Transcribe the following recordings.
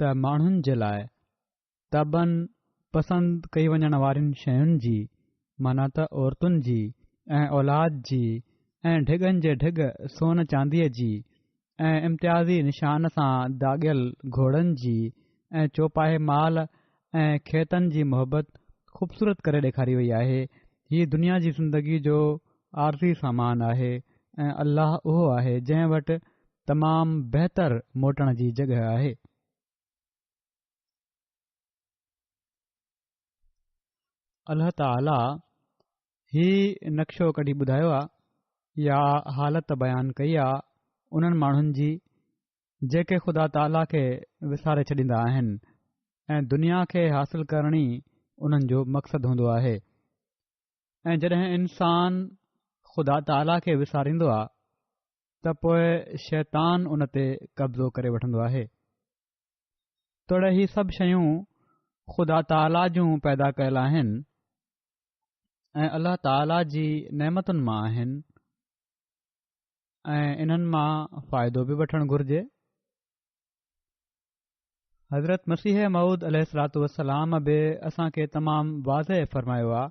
ته ماڻهن جي لاء طبعن پسند ڪئي وڃڻ وارين شين جي معنيٰ ته عورتن جي ۽ اولاد جي ۽ ڍڳن جي ڍڳ سون چانديء جي ۽ امتيازي نشان سان داڳيل گهوڙن جي ۽ چوپاهي مال ۽ کيتن جي محبت خوبصورت ڪري ڏيکاري وئي آهي. هي دنيا جي زندگي جو عارضي سامان آهي ۽ الله اهو آهي جنهن وٽ تمام بهتر موٽڻ جي جڳهه آهي. الله تعاليٰ هي نقشو ڪڍي ٻڌايو آهي يا حالت بيان ڪئي آهي انهن ماڻهن جي جيڪي خدا تعاليٰ کي وساري ڇڏيندا آهن ۽ دنيا کي حاصل ڪرڻ ئي انهن جو مقصد هوندو آهي ۽ جڏهن انسان خدا تعاليٰ کي وساريندو آهي ته پوء شيطان ان تي قبضو ڪري وٺندو آهي توڙي هي سڀ شيون خدا تعاليٰ جون پيدا ڪيل آهن ۽ الله تعاليٰ جي نعمتن مان آهن ۽ انهن مان فائدو به وٺڻ گهرجي. حضرت مسيح مئود عليه الصلاة والسلام به اسان کي تمام واضح فرمايو آ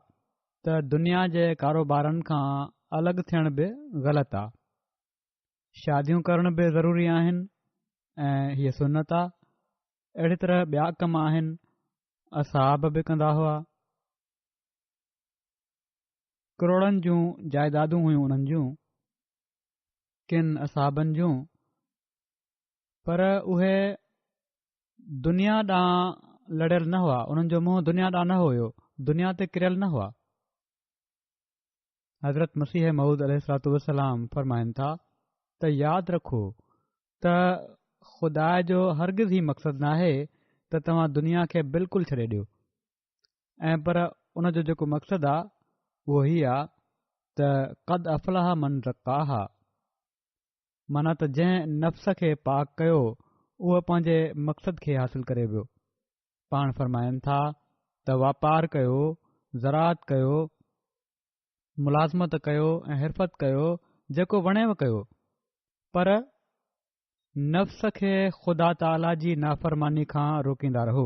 ته دنيا جي ڪاروبارن کان الڳ ٿيڻ به غلط آ. شاديون ڪرڻ به ضروري آهن ۽ هيء سنت آ. اهڙي طرح ٻيا ڪم آهن، اصحاب به ڪندا هئا. ڪروڙن جون جائدادون هيون انهن جون ڪن اصحابن جون پر اهي دنيا ڏانهن لڙيل نه هئا انهن جو منهن دنيا ڏانهن نه هيو دنيا تي ڪريل نه هئا حضرت مسيح محود عليه السلاط وسلام فرمائن ٿا ته ياد رکو ته خدا جو هرگز هي مقصد ناهي ته توهان دنيا کي بلڪل ڇڏي ڏيو ۽ پر ان جو جيڪو مقصد آ اهو هي آ ته قد افلاح من زکاها مانا ته جنهن نفس کي پاڪ ڪيو اهو پنهنجي مقصد کي حاصل ڪري ويو پاڻ فرمائن ٿا ته واپار ڪيو زراعت ڪيو ملازمت ڪيو ۽ حرفت ڪيو جيڪو وڻي ڪيو پر نفس کي خدا تعالي جي نافرماني کان روڪيندا رهو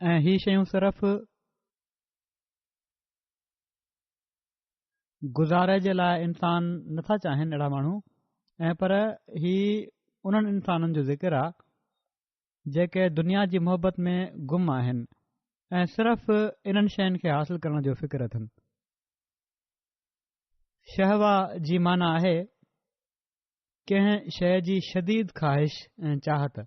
۽ هي شيون صرف گذاري جي لاء انسان نٿا چاهين اهڙا ماڻهو ۽ پر هي انهن انسانن جو ذڪر آهي جيڪي دنيا جي محبت ۾ گم آهن ۽ صرف انهن شين کي حاصل ڪرڻ جو فڪر اٿن شهوا جي معنی آهي ڪنهن شي جي شديد خواهش ۽ چاهت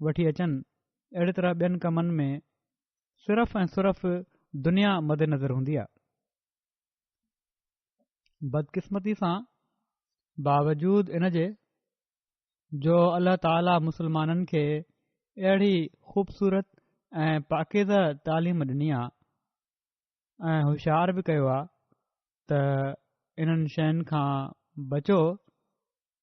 وٺي اچن، اهڙي طرح ٻين ڪمن ۾ صرف ۽ صرف دنيا مدنظر هوندي آهي. بدقسمتي سان باوجود ان جي جو الله تعاليٰ مسلمانن کي اهڙي خوبصورت ۽ پاڪيزه تعليم ڏني آهي ۽ هوشيار به ڪيو آهي ته انهن شين کان بچو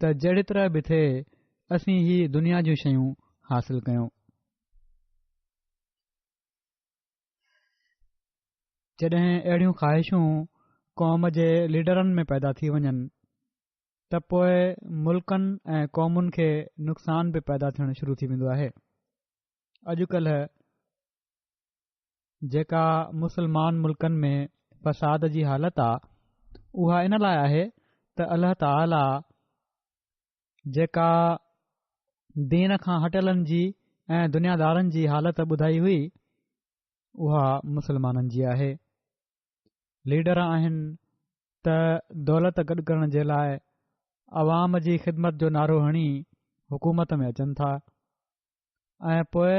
ته جهڙي طرح به ٿئي اسين هي دنيا جون شيون حاصل ڪيون. جڏهن اهڙيون خواهشون قوم جي ليڊرن ۾ پيدا ٿي وڃن ته پوء ملڪن ۽ قومن کي نقصان به پيدا ٿيڻ شروع ٿي ويندو آهي. اڄڪلهه جيڪا مسلمان ملڪن ۾ فساد جي حالت آ اها ان لاء آهي ته الله تعاليٰ جيڪا دين کان هٽيلن جي ۽ دنيادارن جي حالت ٻڌائي هئي اها مسلمانن جي آهي ليڊر آهن ته دولت گڏ ڪرڻ جي لاء عوام جي خدمت جو نعرو هڻي حڪومت ۾ اچن ٿا ۽ پوء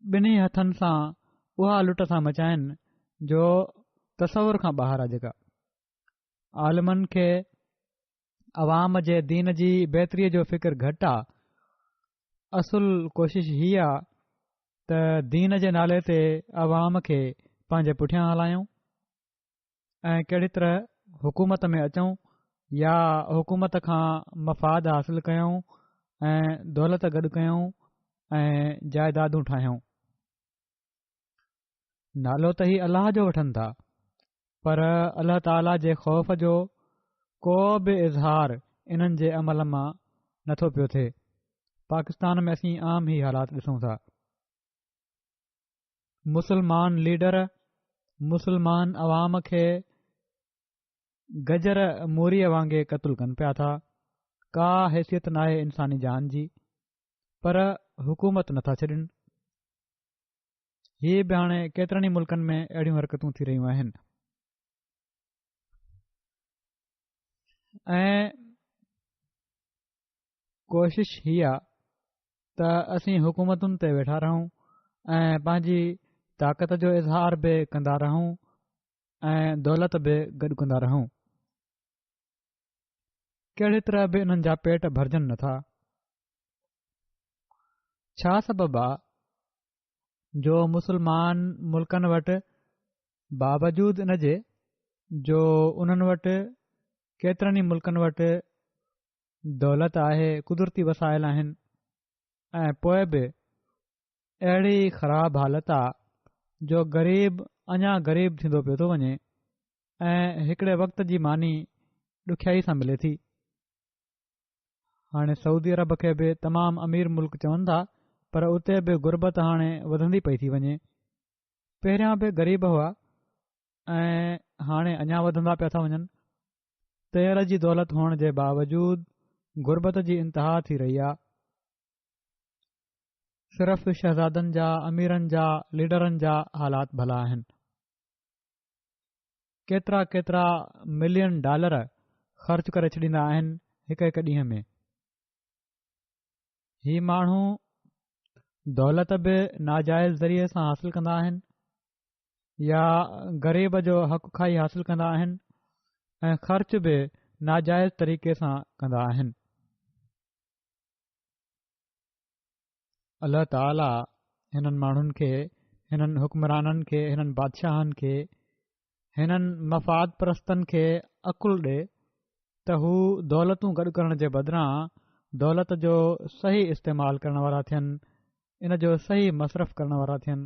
ٻنهي هٿن سان اها لٽ ٿا مچائين جو تصور کان ٻاهر آ جيڪا عالمن کي عوام جي دين جي بهتري جو فڪر گهٽ آ اصل ڪوشش هي آ ته دين جي نالي تي عوام کي پنهنجي پٺيان هلايون ۽ ڪهڙي طرح حڪومت ۾ اچون يا حڪومت کان مفاد حاصل ڪيون ۽ دولت گڏ ڪيون ۽ جائيدادون ٺاهيون نالو ته هي الله جو وٺن ٿا پر الله تعالی جي خوف جو ڪو به اظهار انهن جي عمل مان نٿو پيو ٿئي پاڪستان ۾ اسين عام هي حالات ڏسون ٿا مسلمان ليڊر مسلمان عوام کي گجر موريء وانگي قتل ڪن پيا ٿا ڪا حيثيت ناهي انساني جان جي پر حڪومت نٿا ڇڏين هي به هاڻي ڪيترن ئي ملڪن ۾ اهڙيون حرڪتون ٿي رهيون آهن ڪوشش هي آ ته اسين حڪومتن تي ويٺا رهون ۽ پنهنجي طاقت جو اظهار به ڪندا رهون ۽ دولت به گڏ ڪندا رهون ڪهڙي طرح به انهن جا پيٽ ڀرجن نٿا ڇا سبب آ جو مسلمان ملڪن وٽ باوجود ان جي جو انهن وٽ ڪيترن ئي ملڪن وٽ دولت آهي قدرتي وسائل آهن ۽ پوء به اهڙي خراب حالت آ جو غريب اڃا غريب ٿيندو پيو ٿو وڃي ۽ هڪڙي وقت جي ماني ڏکيائي سان ملي ٿي هاڻي سعودي عرب کي به تمام امير ملڪ چون ٿا پر اتي به غربت هاڻي وڌندي پئي ٿي وڃي پهريان به غريب هئا ۽ هاڻي اڃا وڌندا پيا ٿا وڃن تير جي دولت هئڻ جي باوجود غربت جي انتها ٿي رهي آ. صرف شهزادن جا، اميرن جا، ليڊرن جا حالات ڀلا آهن. ڪيترا ڪيترا ملين ڊالر خرچ ڪري ڇڏيندا آهن هڪ هڪ ڏينهن ۾. هي ماڻهو دولت به ناجائز ذريعي سان حاصل ڪندا آهن. يا غريب جو حق کائي حاصل ڪندا آهن ۽ خرچ به ناجائز طريقي سان ڪندا آهن الله تعاليٰ هنن ماڻهن کي هنن حڪمرانن کي هنن بادشاهن کي هنن مفاد پرستن کي عقل ڏي ته هو دولتون گڏ ڪرڻ جي بدران دولت جو صحيح استعمال ڪرڻ وارا ٿين ان جو صحيح مصرف ڪرڻ وارا ٿين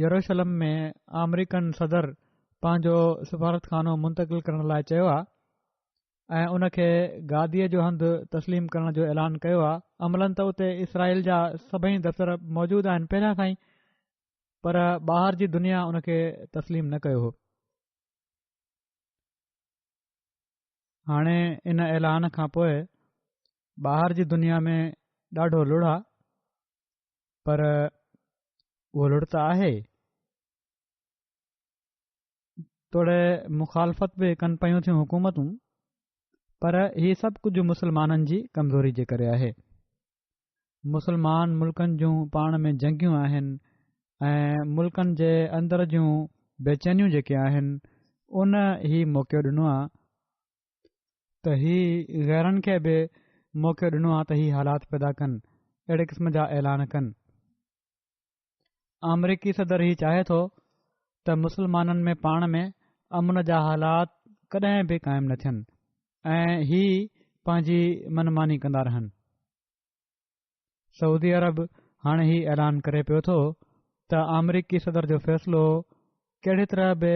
يروشلم ۾ آمريڪن صدر پنهنجو سفارتخانو منتقل ڪرڻ لاء چيو آهي ۽ ان کي گاديء جو هنڌ تسليم ڪرڻ جو اعلان ڪيو آهي عملن ته اتي اسرائيل جا سڀئي دفتر موجود آهن پهريان کان ئي پر ٻاهر جي دنيا ان کي تسليم نه ڪيو هو هاڻي ان اعلان کان پوء ٻاهر جي دنيا ۾ ڏاڍو لڙا پر ڳولهڙ ته آهي. توڙي مخالفت به ڪن پيون ٿيون حڪومتون پر هي سڀ ڪجهه مسلمانن جي ڪمزوري جي ڪري آهي مسلمان ملڪن جون پاڻ ۾ جنگيون آهن ۽ ملڪن جي اندر جون بيچينيون جيڪي آهن ان هي موقعو ڏنو آهي ته هي غيرن کي به موقعو ڏنو آهي ته هي حالات پيدا ڪن اهڙي قسم جا اعلان ڪن آمريڪي صدر هي چاهي ٿو ته مسلمانن ۾ پاڻ ۾ امن جا حالات ڪڏهن به قائم نه ٿين ۽ هي پنهنجي منماني ڪندا رهن سعودي عرب هاڻي هي اعلان ڪري پيو ٿو ته آمريڪي صدر جو فيصلو ڪهڙي طرح به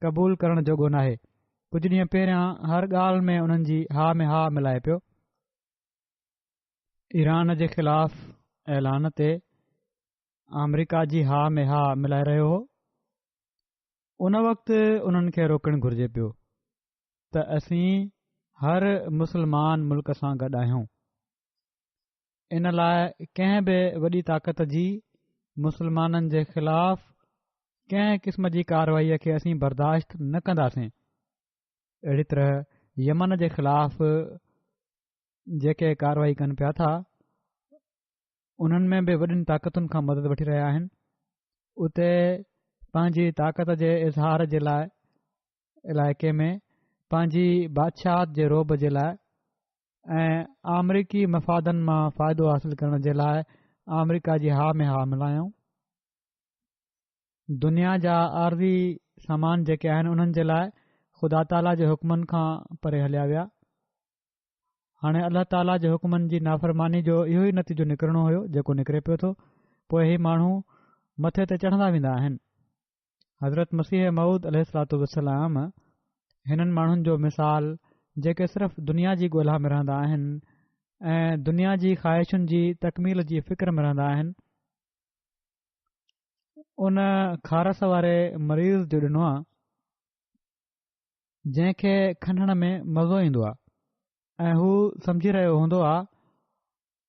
قبول ڪرڻ جوڳو ناهي ڪجهه ڏينهن پهريان هر ڳالهه ۾ انهن جي ها ۾ ها ملائي پيو ايران جي خلاف اعلان تي آمريڪا جي ها ۾ ها ملائي رهيو هو ان وقت انهن کي روڪڻ گهرجي پيو ته اسين هر مسلمان ملڪ سان گڏ آهيون ان لاء ڪنهن به وڏي طاقت جي مسلمانن جي خلاف ڪنهن قسم جي ڪارروائي کي اسين برداشت نه ڪنداسين اهڙي طرح يمن جي خلاف جيڪي ڪارروائي ڪن پيا ٿا انهن ۾ به وڏين طاقتن کان مدد وٺي رهيا آهن اتي پنهنجي طاقت جي اظهار جي لاء علائقي ۾ پنهنجي بادشاهت جي رعب جي لاء ۽ آمريڪي مفادن مان فائدو حاصل ڪرڻ جي لاء آمريڪا جي ها ۾ ها ملايائون دنيا جا عارضي سامان جيڪي آهن انهن جي لاء خدا تعاليٰ جي حڪمن کان پري هليا ويا هاڻي الله تعاليٰ جي حڪمن جي نافرماني جو اهو ئي نتيجو نڪرڻو هيو جيڪو نڪري پيو ٿو پوء هي ماڻهو مٿي تي چڙهندا ويندا آهن حضرت مسيح موعود عليه الصلاة والسلام هنن ماڻهن جو مثال جيڪي صرف دنيا جي ڳولها ۾ رهندا آهن ۽ دنيا جي خواهشن جي تڪميل جي فڪر ۾ رهندا آهن ان خارس واري مريض جو ڏنو آهي جنهن کي کنڻ ۾ مزو ايندو آهي ۽ هو سمجهي رهيو هوندو آهي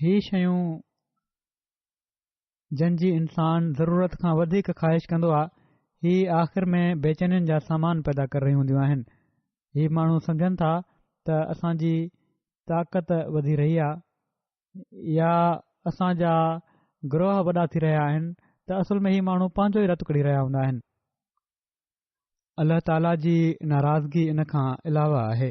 هي شيون جن جي انسان ضرورت کان وڌيڪ خواهش ڪندو آهي هي آخر ۾ بيچينين جا سامان پيدا ڪري رهيون هونديون آهن هي ماڻهو سمجهن ٿا ته اسان جي طاقت وڌي رهي آهي يا اسان جا گروهه وڏا ٿي رهيا آهن ته اصل ۾ هي ماڻهو پنهنجو ئي رت ڪڙهي رهيا هوندا آهن الله تعالي جي ناراضگي ان کان علاوه آهي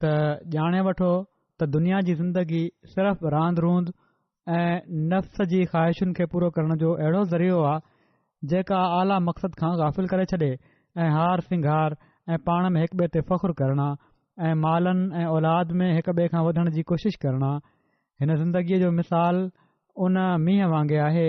ته ڄاڻي وٺو ته دنيا جي زندگي صرف راند روند ۽ نفس جي خواهشن کي پورو ڪرڻ جو اهڙو ذريعو آهي جيڪا اعليٰ مقصد کان غافل ڪري ڇڏي ۽ هار سنگهار ۽ پاڻ ۾ هڪ ٻئي تي فخر ڪرڻ ۽ مالن ۽ اولاد ۾ هڪ ٻئي کان وڌڻ جي ڪوشش ڪرڻ هن زندگيء جو مثال ان مينهن وانگي آهي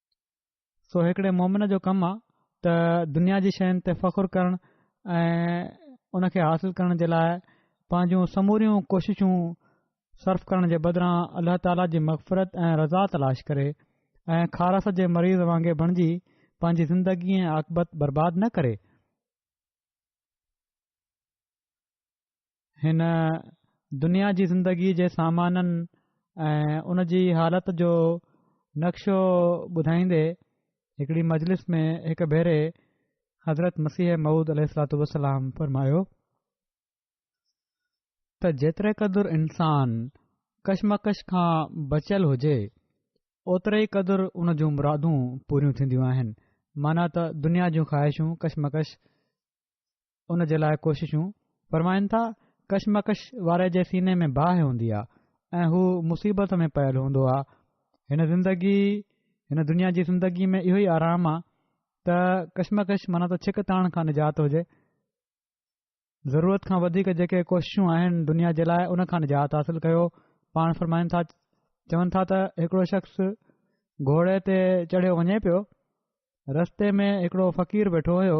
سو هڪڙي مومن جو ڪم آ ته دنيا جي شين تي فخر ڪرڻ ۽ ان کي حاصل ڪرڻ جي لاء پنهنجون سموريون ڪوششون صرف ڪرڻ جي بدران الله تعاليٰ جي مغفرت ۽ رضا تلاش ڪري ۽ خارس جي مريض وانگي بڻجي پنهنجي زندگي ۽ عاقبت برباد نه ڪري هن دنيا جي زندگي جي سامانن ۽ ان جي حالت جو نقشو ٻڌائيندي هڪڙي مجلس ۾ هڪ ڀيري حضرت مسيح مود عليه السلاط وسلام فرمايو ته جيتري قدر انسان ڪشمڪش کان بچيل هجي اوتري ئي قدر ان جون مرادون پوريون ٿينديون آهن مانا ته دنيا جون خواهشون ڪشمڪش ان جي لاء ڪوششون فرمائن ٿا، ڪشمڪش واري جي سيني ۾ باهه هوندي آهي ۽ هو مصيبت ۾ پيل هوندو آهي هن زندگي هن دنيا جي زندگي ۾ اهو ئي آرام آهي ته ڪشمڪش مانا ته ڇڪ تاڻ کان نجات هجي ضرورت کان وڌيڪ جيڪي ڪوششون آهن دنيا جي لاء ان کان نجات حاصل ڪيو پاڻ فرمائن ٿا چون ٿا ته هڪڙو شخص گھوڙي تي چڙهيو وڃي پيو رستي ۾ هڪڙو فقير ويٺو هيو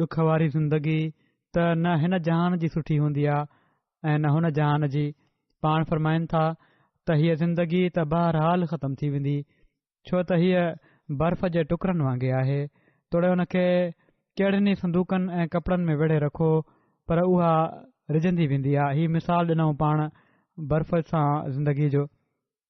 ڏک واري زندگي ته نه هن جهان جي سٺي هوندي آ ۽ نه هن جهان جي. پاڻ فرمائن ٿا ته هيء زندگي ته بهرحال ختم ٿي ويندي، ڇو ته هيء برف جي ٽڪرن وانگي آهي، توڙي ان کي ڪهڙن ئي صندوقن ۽ ڪپڙن ۾ ويڙهي رکو پر اها رجندي ويندي آ. هي مثال ڏنائون پاڻ برف سان زندگي جو.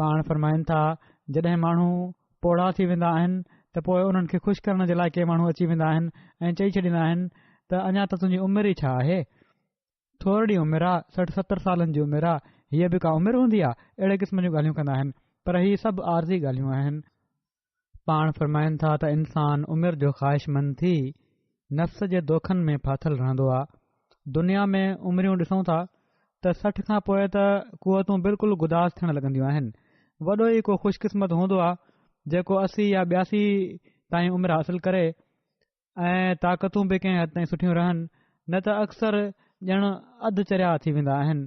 پاڻ فرمائن ٿا جڏهن ماڻهو پوڙها ٿي ويندا آهن ته پوء انهن کي خوش ڪرڻ جي لاء ڪي ماڻهو اچي ويندا آهن ۽ چئي ڇڏيندا آهن ته اڃا ته تنهنجي عمر ئي ڇا آهي ٿورڙي عمر آ سٺ ستر سالن جي عمر آ هيء به ڪا عمر هوندي آ اهڙي قسم جون ڳالهيون ڪندا آهن پر هي سڀ عارضي ڳالهيون آهن پاڻ فرمائن ٿا ته انسان عمر جو خواهشمند ٿي نفس جي دوکن ۾ ڦاٿل رهندو آ. دنيا ۾ عمريون ڏسون ٿا ته سٺ کان پوء ته قوتون بلڪل گداز ٿيڻ لڳنديون آهن. وڏو ئي ڪو خوش قسمت هوندو آ جيڪو اسي يا ٻياسي تائين عمر حاصل ڪري ۽ طاقتون به ڪنهن حد تائين سٺيون رهن نه ته اڪثر ڄڻ اڌ چريا ٿي ويندا آهن.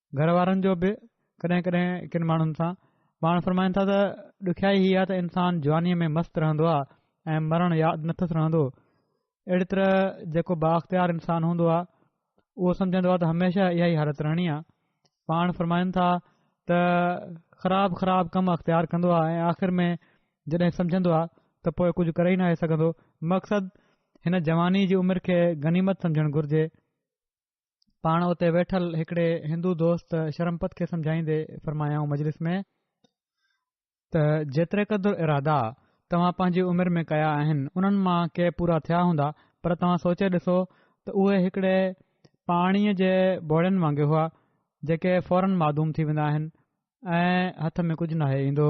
گهر وارن جو به ڪڏهن ڪڏهن ڪن ماڻهن سان پاڻ فرمائن ٿا ته ڏکيائي هي آهي ته انسان جوانيء ۾ مست رهندو آهي ۽ مرڻ ياد نٿس رهندو اهڙي طرح جيڪو بااختيار انسان هوندو آهي اهو سمجهندو آهي ته هميشه اها ئي حالت رهڻي آهي پاڻ فرمائن ٿا ته خراب خراب ڪم اختيار ڪندو آهي ۽ آخر ۾ جڏهن سمجهندو آهي ته پوء ڪجهه ڪري ناهي سگهندو مقصد هن جواني جي عمر کي غنيمت سمجهڻ گهرجي پاڻ اتي ويٺل هڪڙي هندو دوست شرمپت کي سمجهائيندي فرمايائون مجلس ۾ ته جيتري قدر ارادا توهان پنهنجي عمر ۾ ڪيا آهن انهن مان ڪي پورا ٿيا هوندا پر توهان سوچي ڏسو ته اهي هڪڙي پاڻي جي بوڙين وانگي هئا جيڪي فورن معدوم ٿي ويندا آهن ۽ هٿ ۾ ڪجهه ناهي ايندو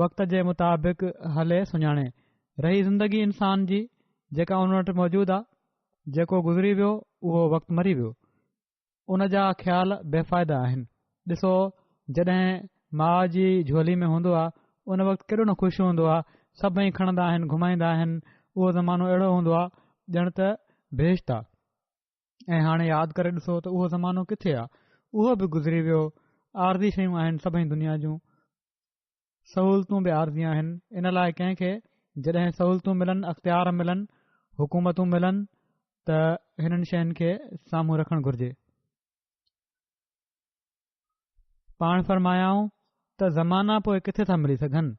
وقت جي مطابق هلي سڃاڻي. رهي زندگي انسان جي جيڪا ان وٽ موجود آ، جيڪو گذري ويو اهو وقت مري ويو. ان جا خيال بي فائده آهن. ڏسو جڏهن ماء جي جهولي ۾ هوندو آ ان وقت ڪيڏو نه خوش هوندو آ، سڀئي کڻندا آهن گهمائيندا آهن، اهو زمانو اهڙو هوندو آ ڄڻ ته بهشت آ. ۽ هاڻي ياد ڪري ڏسو ته اهو زمانو ڪٿي آ، اهو به گذري ويو، عارضي شيون آهن سڀئي دنيا جون. سهولتون به عارضي آهن ان لاء ڪنهن کي جڏهن سهولتون ملن اختيار ملن حڪومتون ملن ته هنن شين کي سامهون رکڻ گهرجي پاڻ فرمايائون ته زمانا پوء ڪٿي ٿا ملي سگهن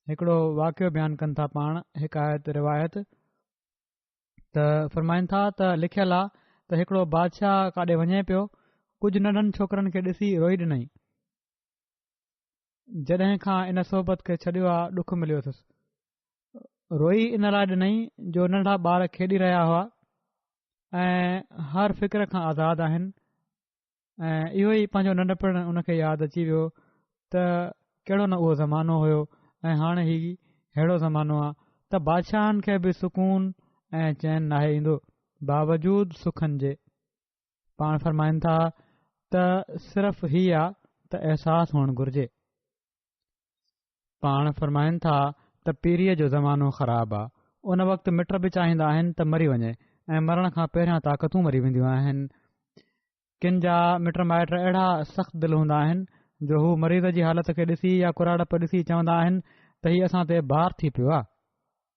هڪڙو واقعو بيان ڪن ٿا پاڻ حڪايت روايت ته فرمائن ٿا ته لکيل آ ته هڪڙو بادشاهه ڪاڏي وڃي پيو ڪجهه ننڍن ڇوڪرن کي ڏسي روئي ڏنائين جڏهن کان ان صحبت کي ڇڏيو آ ڏک مليو اٿس روئي ان لاء ڏنئي جو ننڍا ٻار کيڏي رهيا هئا ۽ هر فڪر کان آزاد آهن ۽ اهو ئي پنهنجو ننڍپڻ ان کي ياد اچي ويو ته ڪهڙو نه اهو زمانو هيو ۽ هاڻي هي ههڙو زمانو آ ته بادشاهن کي به سڪون ۽ چين ناهي ايندو باوجود سکن جي پاڻ فرمائن ٿا ته صرف هي آ ته احساس هئڻ گهرجي پاڻ فرمائن ٿا ته پيريء جو زمانو خراب آ ان وقت مٽ به چاهيندا آهن ته مري وڃي ۽ مرڻ کان پهريان طاقتون مري وينديون آهن ڪن جا مٽ مائٽ اهڙا سخت دل هوندا آهن جو هو مريض جي حالت کي ڏسي يا ڪراڙپ ڏسي چوندا آهن ته هي اسان تي بار ٿي پيو آ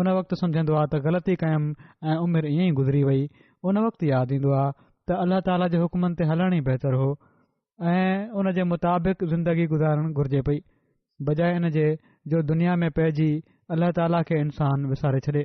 ان وقت سمجهندو آ ته غلطي ڪيم ۽ عمر ائين ئي گذري وئي. ان وقت ياد ايندو آ ته الله تعاليٰ جي حڪمن تي هلڻ ئي بهتر هو ۽ ان جي مطابق زندگي گذارڻ گهرجي پئي، بجاء ان جي جو دنيا ۾ پئجي الله تعاليٰ کي انسان وساري ڇڏي.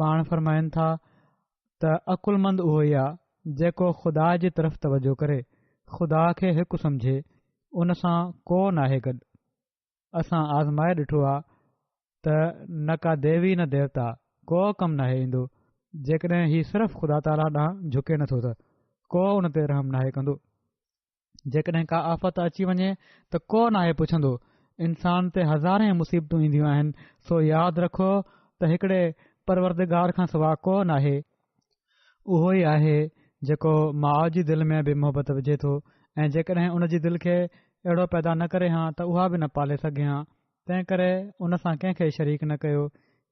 پاڻ فرمائن ٿا ته عقلمند اهو ئي آهي جيڪو خدا جي طرف توجه ڪري خدا کي هڪ سمجهي ان سان ڪو ناهي گڏ اسان آزمائي ڏٺو آهي ته نه ڪا ديوي نه ديوتا ڪو ڪم ناهي ايندو جيڪڏهن هي صرف خدا تعاليٰ ڏانهن جهڪي نٿو ته ڪو ان تي رحم ناهي ڪندو جيڪڏهن ڪا آفت اچي وڃي ته ڪو ناهي پڇندو. انسان تي هزارين مصيبتون اينديون آهن، سو ياد رکو ته هڪڙي پروردگار کان سواء ڪو ناهي. اهو ئي آهي جيڪو ماء جي دل ۾ به محبت وجهي ٿو ۽ جيڪڏهن ان جي دل کي اهڙو پيدا نه ڪري هان ته اها به نه پالي سگهي هان. تنهن ڪري ان سان ڪنهن کي شريڪ نه ڪيو.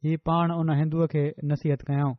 هي پاڻ ان هندوء کي نصيحت ڪيائون.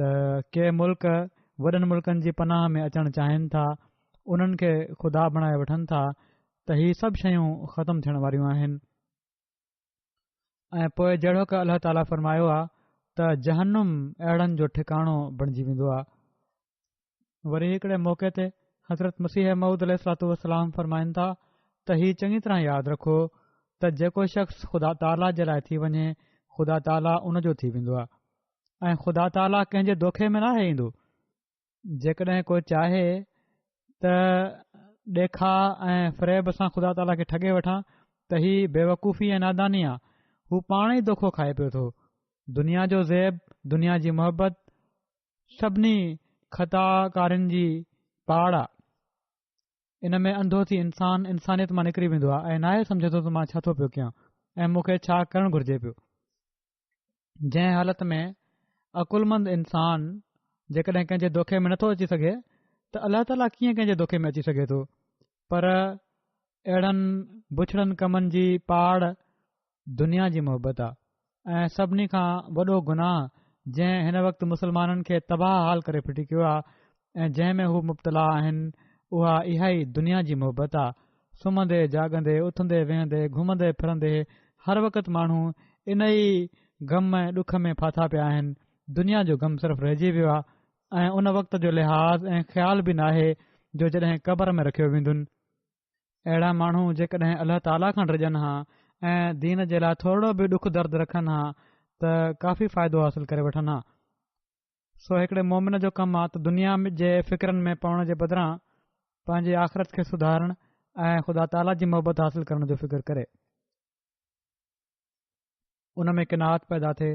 ته ڪي ملڪ وڏن ملڪن جي پناهه ۾ اچڻ چاهين ٿا انهن کي خدا بڻائي وٺن ٿا ته هي سڀ شيون ختم ٿيڻ واريون آهن ۽ پوء جهڙو ڪه الله تعاليٰ فرمايو آهي ته جهنم اهڙن جو ٺڪاڻو بڻجي ويندو آهي وري هڪڙي موقعي تي حضرت مسيح موعود عليه الصلات والسلام فرمائن ٿا ته هي چڱي طرح ياد رکو ته جيڪو شخص خدا تعاليٰ جي لاء ٿي وڃي خدا تعاليٰ ان جو ٿي ويندو آهي ۽ خدا تعاليٰ ڪنهن جي دوکي ۾ ناهي ايندو جيڪڏهن ڪو چاهي ته ڏيکاء ۽ فريب سان خدا تعاليٰ کي ٺڳي وٺان ته هي بيوقوفي ۽ ناداني آ هو پاڻ ئي دوکو کائي پيو ٿو دنيا جو زيب دنيا جي محبت سڀني خطا ڪارين جي پاڙ آ. ان ۾ انڌو ٿي انسان انسانيت مان نڪري ويندو آ ۽ ناهي سمجهندو ته مان ڇا ٿو پيو ڪيان ۽ مون کي ڇا ڪرڻ گهرجي پيو. جنهن حالت ۾ عقلمند انسان جيڪڏهن ڪنهن جي دوکي ۾ نٿو اچي سگهي ته الله تعاليٰ ڪيئن ڪنهن جي دوکي ۾ اچي سگهي ٿو. پر اهڙن بڇڙن ڪمن جي پاڙ دنيا جي محبت آ ۽ سڀني کان وڏو گناهه جنهن هن وقت مسلمانن کي تباهه حال ڪري ڦٽي ڪيو آ ۽ جنهن ۾ هو مبتلا آهن اها اها ئي دنيا جي محبت آ سمهندي جاڳندي اٿندي ويهندي گهمندي ڦرندي هر وقت ماڻهو ان ئي غم ۽ ڏک ۾ ڦاٿا پيا آهن دنيا جو غم صرف رهجي ويو آ ۽ ان وقت جو لحاظ ۽ خيال به ناهي جو جڏهن قبر ۾ رکيو ويندن. اهڙا ماڻهو جيڪڏهن الله تعاليٰ کان ڊڄن ها ۽ دين جي لاء ٿورڙو به ڏک درد رکن ها ته ڪافي فائدو حاصل ڪري وٺن ها. سو هڪڙي مؤمن جو ڪم آ ته دنيا جي فڪرن ۾ پوڻ جي بدران پنهنجي آخرت کي سڌارڻ ۽ خدا تعاليٰ جي محبت حاصل ڪرڻ جو فڪر ڪري. ان ۾ قناعت پيدا ٿئي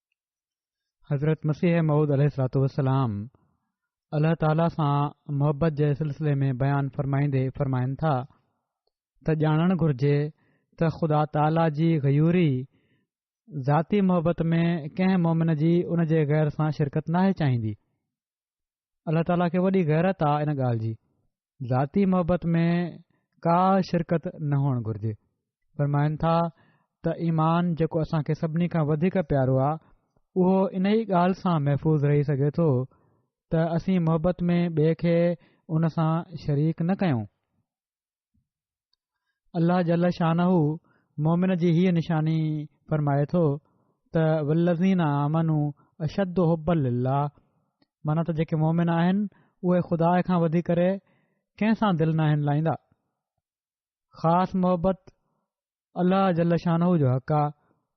حضرت مسيح مئود عليه الصلاة والسلام الله تعاليٰ سان محبت جي سلسلي ۾ بيان فرمائيندي فرمائن ٿا ته ڄاڻڻ گهرجي ته خدا تعاليٰ جي غيوري ذاتي محبت ۾ ڪنهن مومن جي ان جي غير سان شرڪت ناهي چاهيندي الله تعاليٰ کي وڏي غيرت آ ان ڳالهه جي ذاتي محبت ۾ ڪا شرڪت نه هئڻ گهرجي فرمائن ٿا ته ايمان جيڪو اسان کي سڀني کان وڌيڪ پيارو آ اهو ان ئي ڳالهه سان محفوظ رهي سگهي ٿو ته اسين محبت ۾ ٻئي کي ان سان شريڪ نه ڪيون الله جل شانه مؤمن جي هيء نشاني فرمائي ٿو ته والذين آمنوا اشد حبا لله معنيٰ ته جيڪي مؤمن آهن اهي خدا کان وڌي ڪري ڪنهن سان دل ناهن لائيندا خاص محبت الله جل شانه جو حق آ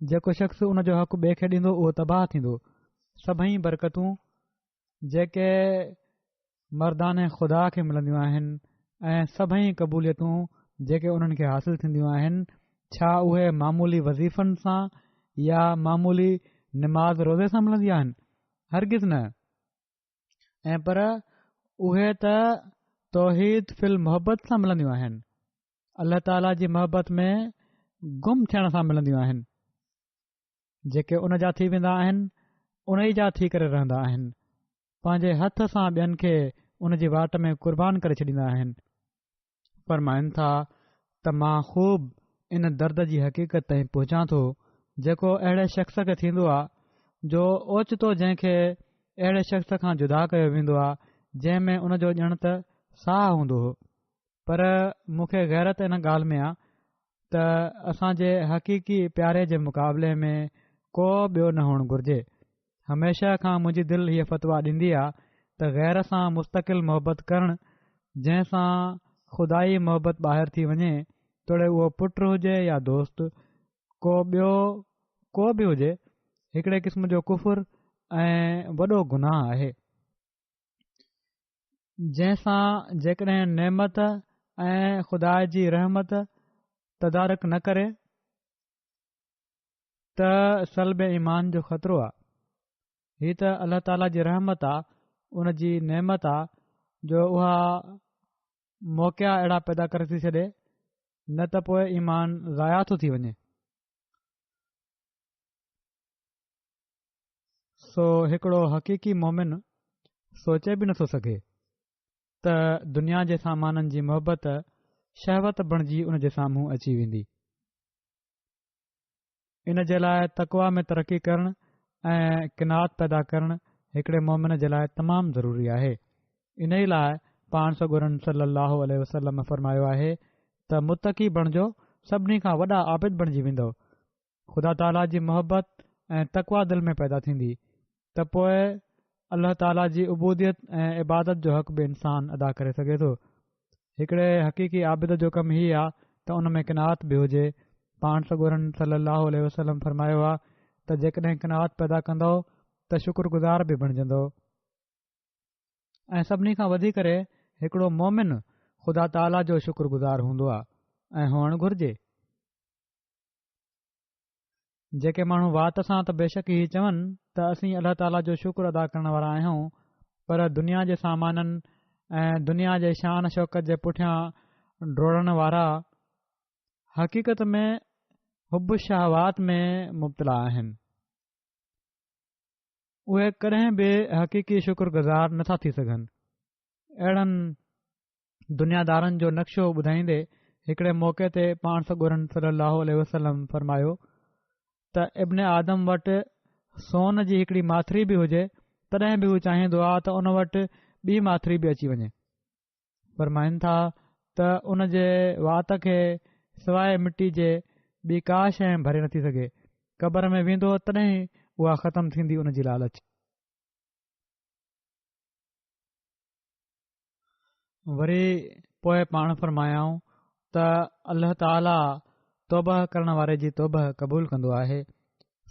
جيڪو شخص ان جو حق ٻئي کي ڏيندو اهو تباهه ٿيندو سڀئي برڪتون جيڪي مردان خدا کي ملنديون آهن ۽ سڀئي قبوليتون جيڪي انهن کي حاصل ٿينديون آهن ڇا اهي معمولي وظيفن سان يا معمولي نماز روزي سان ملنديون آهن هرگز نه ۽ پر اهي ته توحيد فل محبت سان ملنديون آهن الله تعاليٰ جي محبت ۾ گم ٿيڻ سان ملنديون آهن جيڪي ان جا ٿي ويندا آهن ان ئي جا ٿي ڪري رهندا آهن پنهنجي هٿ سان ٻين کي ان جي واٽ ۾ قربان ڪري ڇڏيندا آهن فرمائن ٿا ته مان خوب ان درد جي حقيقت تائين پهچان ٿو جيڪو اهڙي شخص کي ٿيندو آ جو اوچتو جنهن کي اهڙي شخص کان جدا ڪيو ويندو آ جنهن ۾ ان جو ڄڻ ته ساهه هوندو هو پر مون کي غيرت ان ڳالهه ۾ آ ته اسان جي حقيقي پياري جي مقابلي ۾ ڪو ٻيو نه هئڻ گهرجي. هميشه کان منهنجي دل هيء فتويٰ ڏيندي آ ته غير سان مستقل محبت ڪرڻ جنهن سان خدائي محبت ٻاهر ٿي وڃي توڙي اهو پٽ هجي يا دوست ڪو ٻيو ڪو به هجي هڪڙي قسم جو ڪفر ۽ وڏو گناهه آهي. جنهن سان جيڪڏهن نعمت ۽ خدا جي رحمت تدارڪ نه ڪري ته سلب ايمان جو خطرو آ هي ته الله تعاليٰ جي رحمت آ ان جي نعمت آ جو اها موقعا اهڙا پيدا ڪري ٿي ڇڏي نه ته پوء ايمان ضايع ٿو ٿي وڃي سو هڪڙو حقيقي مومن سوچي به نٿو سگهي ته دنيا جي سامانن جي محبت شهوت بڻجي ان جي سامهون اچي ويندي ان جي لاء تقوا ۾ ترقي ڪرڻ ۽ قناعت پيدا ڪرڻ هڪڙي مومن جي لاء تمام ضروري آهي ان ئي لاء پاڻ سگورن صلي الله عليه وسلم فرمايو آهي ته متقي بڻجو سڀني کان وڏا عابد بڻجي ويندو خدا تعاليٰ جي محبت ۽ تقويٰ دل ۾ پيدا ٿيندي ته پوء الله تعاليٰ جي عبوديت ۽ عبادت جو حق به انسان ادا ڪري سگهي ٿو هڪڙي حقيقي عابد جو ڪم هي آهي ته ان ۾ قناعت به هجي پاڻ سڳورن صلي الله عليه وسلم فرمايو آهي ته جيڪڏهن قناعت پيدا ڪندو ته شڪر گذار به بڻجندو ۽ سڀني کان وڌيڪ ڪري هڪڙو مومن خدا تعاليٰ جو شڪر گذار هوندو آهي ۽ هئڻ گهرجي جيڪي ماڻهو وات سان ته بيشڪ هي چون ته اسين الله تعاليٰ جو شڪر ادا ڪرڻ وارا آهيون پر دنيا جي سامانن ۽ دنيا جي شان شوڪت جي پٺيان ڊوڙڻ وارا حقيقت ۾ حب شهوات ۾ مبتلا آهن اهي ڪڏهن به حقيقي شڪر گذار نٿا ٿي سگهن اهڙن دنيادارن جو نقشو ٻڌائيندي هڪڙي موقعي تي پاڻ سڳورن صلي الله عليه وسلم فرمايو ته ابن آدم وٽ سون جي هڪڙي ماٿري به هجي تڏهن به هو چاهيندو آ ته ان وٽ ٻي ماٿري به اچي وڃي فرمائن ٿا ته ان جي وات کي سواء مٽي جي ٻي ڪا شيء ڀري نٿي سگهي قبر ۾ ويندو تڏهن اها ختم ٿيندي ان جي لالچ وري پوء پاڻ فرمايائون ته الله تعالي توبه ڪرڻ واري جي توبه قبول ڪندو آهي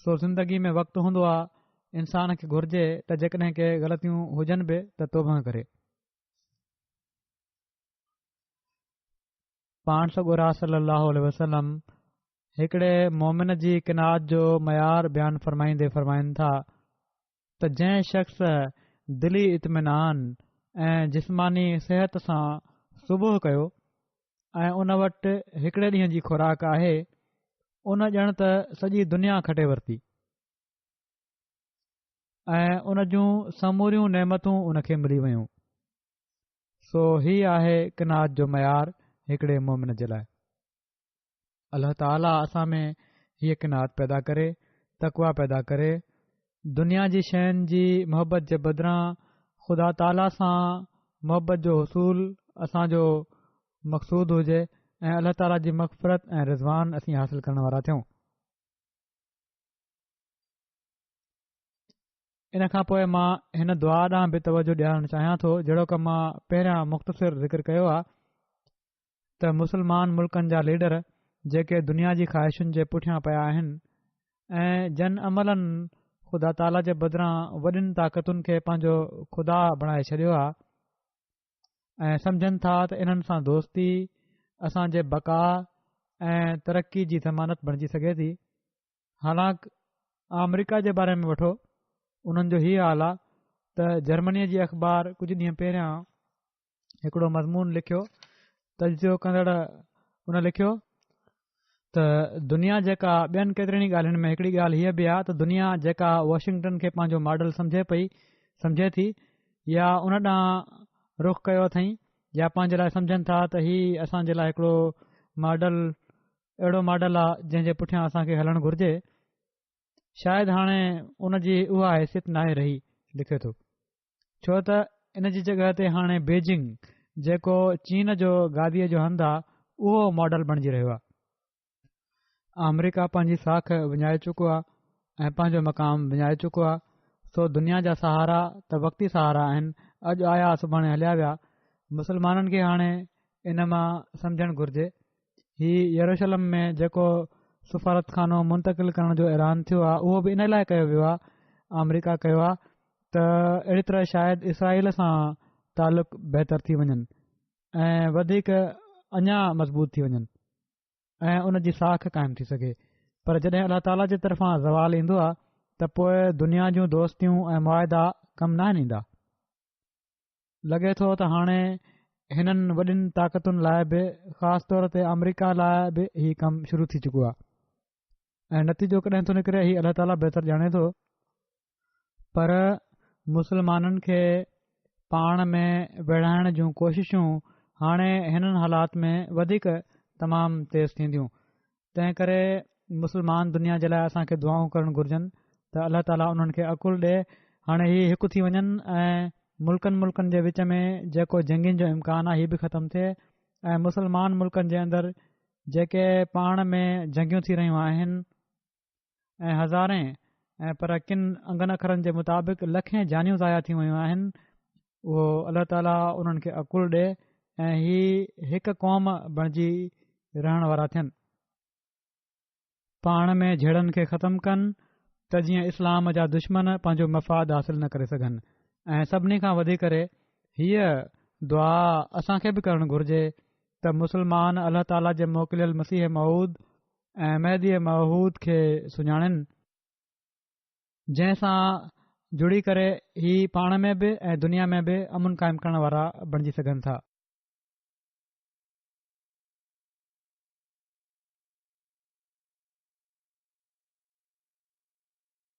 سو زندگي ۾ وقت هوندو آهي انسان کي گهرجي ته جيڪڏهن ڪي غلطيون هجن به ته توبه ڪري پاڻ سگورا صلي الله عليه وسلم هڪڙي مومن جي قناعت جو معيار بيان فرمائيندي فرمائن ٿا ته جنهن شخص دلي اطمينان ۽ جسماني صحت سان صبح ڪيو ۽ ان وٽ هڪڙي ڏينهن جي خوراڪ آهي ان ڄڻ ته سڄي دنيا کٽي ورتي ۽ ان جون سموريون نعمتون ان کي ملي ويون سو هي آهي قناعت جو معيار هڪڙي مومن جي لاء الله تعاليٰ اسان ۾ هيء قناعت پيدا ڪري، تقويٰ پيدا ڪري، دنيا جي شين جي محبت جي بدران خدا تعاليٰ سان محبت جو حصول اسان جو مقصود هجي ۽ الله تعاليٰ جي مغفرت ۽ رضوان اسين حاصل ڪرڻ وارا ٿيون. ان کان پوء مان هن دعا ڏانهن به توجه ڏيارڻ چاهيان ٿو جهڙوڪ مان پهريان مختصر ذڪر ڪيو آهي. ته مسلمان ملڪن جا ليڊر جيڪي دنيا جي خواهشن جي پٺيان پيا آهن ۽ جن عملن خدا تعاليٰ جي بدران وڏين طاقتن کي پنهنجو خدا بڻائي ڇڏيو آهي ۽ سمجهن ٿا ته انهن سان دوستي اسان جي بقا ۽ ترقي جي ضمانت بڻجي سگهي ٿي حالانڪ آمريڪا جي باري ۾ وٺو انهن جو هي حال آهي ته جرمنيء جي اخبار ڪجهه ڏينهن پهريان هڪڙو مضمون لکيو تجزيو ڪندڙ ان لکيو ته دنيا جيڪا ٻين ڪيترين ئي ڳالهين ۾ هڪڙي ڳالهه هيء به آهي ته دنيا جيڪا واشنگٽن کي پنهنجو ماڊل سمجهي پئي سمجهي ٿي يا ان ڏانهن رخ ڪيو اٿئي يا پنهنجي لاء سمجهن ٿا ته هي اسان جي لاء هڪڙو ماڊل اهڙو ماڊل آهي جنهن جي پٺيان اسان کي هلڻ گهرجي شايد هاڻي ان جي اها حيثيت ناهي رهي لکي ٿو ڇو ته ان جي جڳهه تي هاڻي بيجنگ جيڪو چين جو گاديء جو هنڌ آهي اهو ماڊل بڻجي رهيو آهي آمريڪا پنهنجي ساک وڃائي چڪو آهي ۽ پنهنجو مقام وڃائي چڪو آهي سو دنيا جا سهارا ته وقتي سهارا آهن اڄ آيا سڀاڻي هليا ويا مسلمانن کي هاڻي ان مان سمجهڻ گهرجي هي يروشلم ۾ جيڪو سفارت خانو منتقل ڪرڻ جو اعلان ٿيو آهي اهو به ان لاء ڪيو ويو آهي آمريڪا ڪيو آهي ته اهڙي طرح شايد اسرائيل سان تعلق بهتر ٿي وڃن ۽ وڌيڪ اڃا مضبوط ٿي وڃن ۽ ان جي ساک قائم ٿي سگهي پر جڏهن الله تعالیٰ جي طرفان زوال ايندو آهي ته پوء دنيا جون دوستيون ۽ معاهدا ڪم نه آهن ايندا لڳي ٿو ته هاڻي هنن وڏين طاقتن لاء به خاص طور تي آمريڪا لاء به هي ڪم شروع ٿي چڪو آهي ۽ نتيجو ڪڏهن ٿو نڪري هي الله تعالیٰ بهتر ڄاڻي ٿو پر مسلمانن کي پاڻ ۾ ويڙهائڻ جون ڪوششون هاڻي هنن حالات ۾ وڌيڪ تمام تيز ٿينديون تنهن ڪري مسلمان دنيا جي لاء اسان کي دعائون ڪرڻ گهرجن ته الله تعاليٰ انهن کي عقل ڏي هاڻي هي هڪ ٿي وڃن ۽ ملڪن ملڪن جي وچ ۾ جيڪو جنگين جو امڪان آهي هي به ختم ٿئي ۽ مسلمان ملڪن جي اندر جيڪي پاڻ ۾ جنگيون ٿي رهيون آهن ۽ هزارين ۽ پر ڪن انگن اکرن جي مطابق لکين جانيون ضايع ٿيون ويون آهن اهو الله تعاليٰ انهن کي عقل ڏي ۽ هي هڪ قوم بڻجي رهڻ وارا ٿين پاڻ ۾ جھيڙن کي ختم ڪن ته جيئن اسلام جا دشمن پنهنجو مفاد حاصل نه ڪري سگھن ۽ سڀني کان وڌيڪ ڪري هيء دعا اسان کي به ڪرڻ گھرجي ته مسلمان الله تعاليٰ جي موڪليل مسيح مود ۽ مهديء موعود کي سڃاڻين، جنهن سان جڙي ڪري هي پاڻ ۾ به ۽ دنيا ۾ به امن قائم ڪرڻ وارا بڻجي سگهن ٿا.